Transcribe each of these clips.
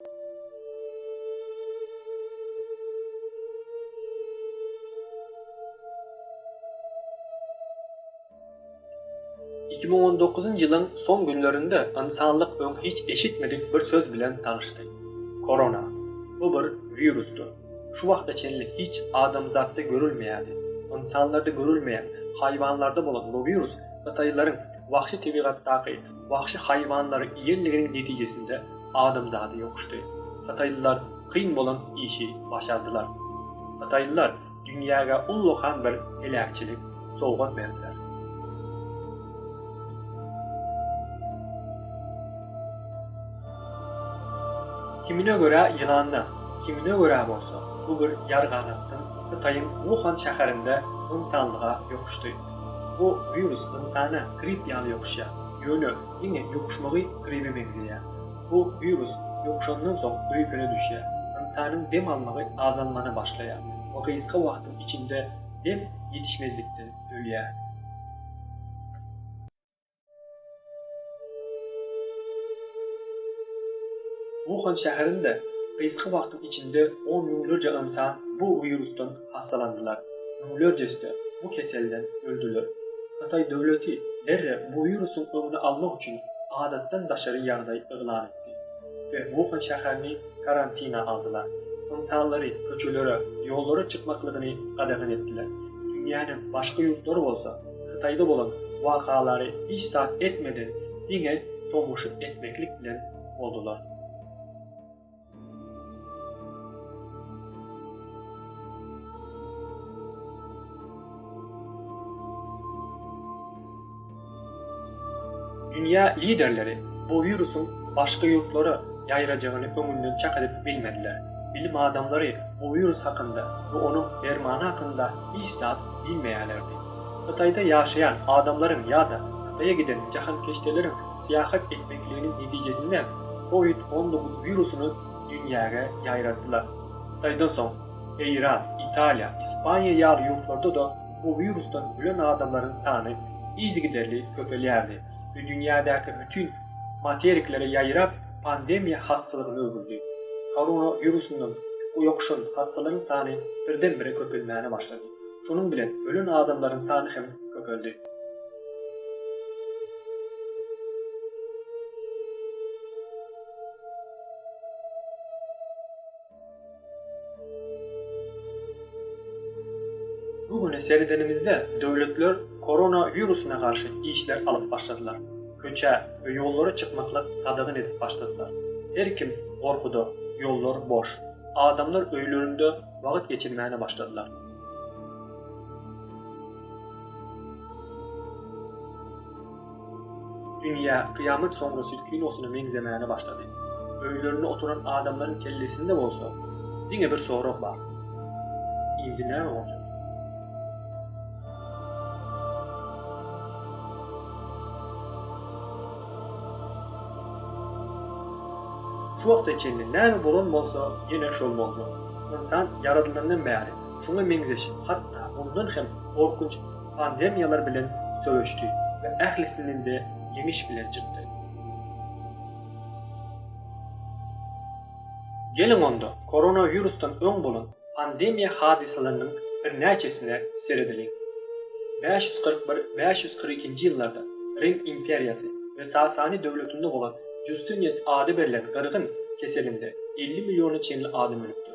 Iki müň on dokuzynjy ýylyň soň günlerinde ynsanlyk öň hiç eşitmedik bir söz bilen tanyşdy. Korona. Bu bir wirusdy. Şu wagta çenli hiç adamzatda görülmeýärdi. Ynsanlarda görülmeýän, haýwanlarda bolan bu wirus hytaýlaryň wahşy tebigatdaky Wagşy haýwanlary iýenliginiň netijesinde adamzady ýokuşdy. Hytaýlylar kyn bolan işi başardylar. Hytaýlylar dünýäge ullakan bir heläkçilik sowgat berdiler. Kimine görä ýylandan, kimine görä bolsa bu bir ýarganatdan Hytaýyň Wuhan şäherinde ynsanlyga ýokuşdy. Bu wirus ynsana grip ýaly ýokuşýar, ýöne diňe ýokuşmagy gribe meňzeýär. Bu wirus ýokuşandan soň öýkene düşýär, ynsanyň dem almagy azalmana başlaýar we gysga wagtyň içinde dem ýetişmezlikden ölýär. Wuhan şäherinde gysga wagtyň içinde on müňlerje ynsan bu wirusdan hassalandylar, müňlerjesi-de bu keselden öldüler. Hytaý döwleti derrew bu wirusyň öňüni almak üçin adatdan daşary ýagdaý yglan etdi we Wuhan şäherini karantina aldylar. Ynsanlary köçelere, ýollara çykmaklygyny gadagan etdiler. Dünýäniň başga ýurtlary bolsa, Hytaýda bolan wakalary hiç zat etmeden diňe tomaşa etmeklik bilen boldular. Dünýä liderleri bu wirusyň başga ýurtlara ýaýrajagyny öňünden çak edip bilmediler. Bilim adamlary bu wirus hakynda we onuň dermany hakynda hiç zat diýmeýärlerdi. Hytaýda ýaşaýan adamlaryň ýa-da Hytaýa giden jahankeşdeleriň syýahat etmekliginiň netijesinde Kowid on dokuz wirusyny dünýäge ýaýratdylar. Hytaýdan soň, Eýran, Italiýa, Ispaniýa ýaly ýurtlarda-da bu wirusdan ölen adamlaryň sany yzygiderli köpelýärdi we dünýädäki bütin materiklere ýaýrap, pandemiýa hassalygyna öwrüldi. Korona wirusyndan ýokuşan hassalaryň sany birden-bire köpelmäne başlady. Şonuň bilen ölen adamlaryň sany hem köpeldi. Bu güne seredenimizde döwletler korona wirusyna garşy işler alyp başladylar. Köçä we ýollara çykmaklyk gadagan edip başladylar. Her kim gorkuda, ýollar boş. Adamlar öýlerinde wagt geçirmäne başladylar. Dünýä Kyýamat soňrasy kinosyna meňzemäne başlady. Öýlerinde oturan adamlaryň kellesinde bolsa, diňe bir sorag bar, Indi näme boljak? Şu wagta çenli näme bolan bolsa, ýene şol boljak. Ynsan ýaradylandan bäri şuňa meňzeş, hatda ondan hem gorkunç pandemiýalar bilen söweşdi we ählisinden-de ýeňiş bilen çykdy. Geliň onda, koronawirusdan öň bolan pandemiýa hadysalarynyň birnäçesine seredeliň. Bäş ýüz kyrk bir, bäş ýüz kyrk ikinji ýyllarda Rim imperiýasy we Sasani döwletinde bolan Justinius ady berlen gyrgyn keselinde elli milliona çenli adam ölüpdir.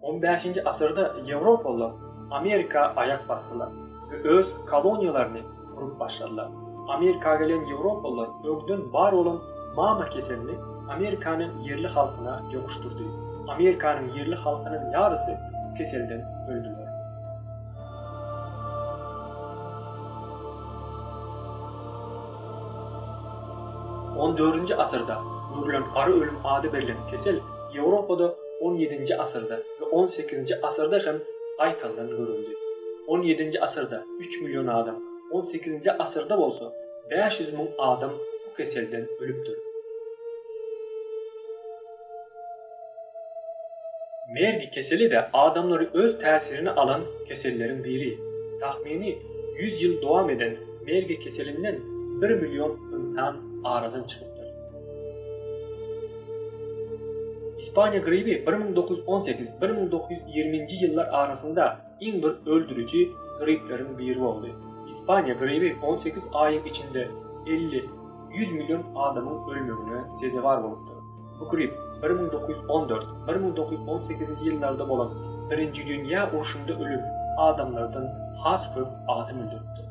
On bäşinji asyrda ýewropalylar Amerika aýak basdylar we öz koloniýalaryny gurup başladylar. Amerika gelen ýewropalylar öňden bar bolan mama keselini Amerikanyň ýerli halkyna ýokuşdyrdy. Amerikanyň ýerli halkynyň ýarysy bu keselden öldüler. On dördünji asyrda görülen gara ölüm ady berlen kesel Ýewropada on ýedinji asyrda we on sekizinji asyrda hem gaýtaldan görüldi. On ýedinji asyrda üç million adam, on sekizinji asyrda bolsa bäş ýüz müň adam bu keselden ölüpdir. Mergi keseli-de adamlary öz täsirine alan keselleriň biri. Tahmini ýüz ýyl dowam eden mergi keselinden bir million ynsan aradan çykypdyr. Ispaniýa gribi bir müň dokuz ýüz on sekiz-bir müň dokuz ýüz ýigriminji ýyllar arasynda iň bir öldüriji gripleriň biri boldy. Ispaniýa gribi on sekiz aýyň içinde elli, ýüz million adamyň ölmegine sezewar bolupdyr. Bu grip bir müň dokuz ýüz on dört-bir müň dokuz ýüz on sekizinji ýyllarda bolan Birinji dünýä urşunda ölen adamlardan has köp adam öldüripdir.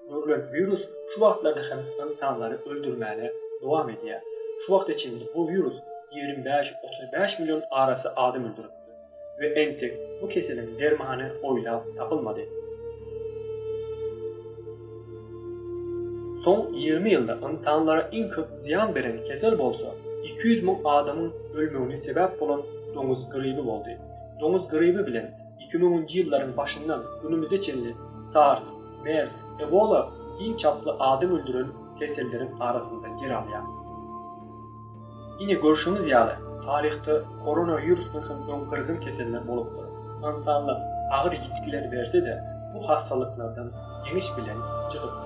Görlen wirus şu wagtlarda hem ynsanlary öldürmäne dowam edýär. Şu wagta çenli bu wirus ýigrimi bäş, otuz bäş million arasy adam öldüripdir we entek bu keseliň dermany oýlap tapylmady. Soň ýigrimi ýylda ynsanlara iň köp zyýan beren kesel bolsa, iki ýüz müň adamyň ölmegine sebäp bolan doňuz gribi boldy. Doňuz gribi bilen Iki müňünji ýyllaryň başyndan günümize çenli SARS, mers, ebola iň çaply adam öldüren keselleriň arasynda ýer alýar. Ine, görşüňiz ýaly, taryhda koronawirusdan soň öň gyrgyn keseller bolupdyr. Ynsanlyk agyr ýitgiler berse-de, bu hassalyklardan ýeňiş bilen çykypdyr.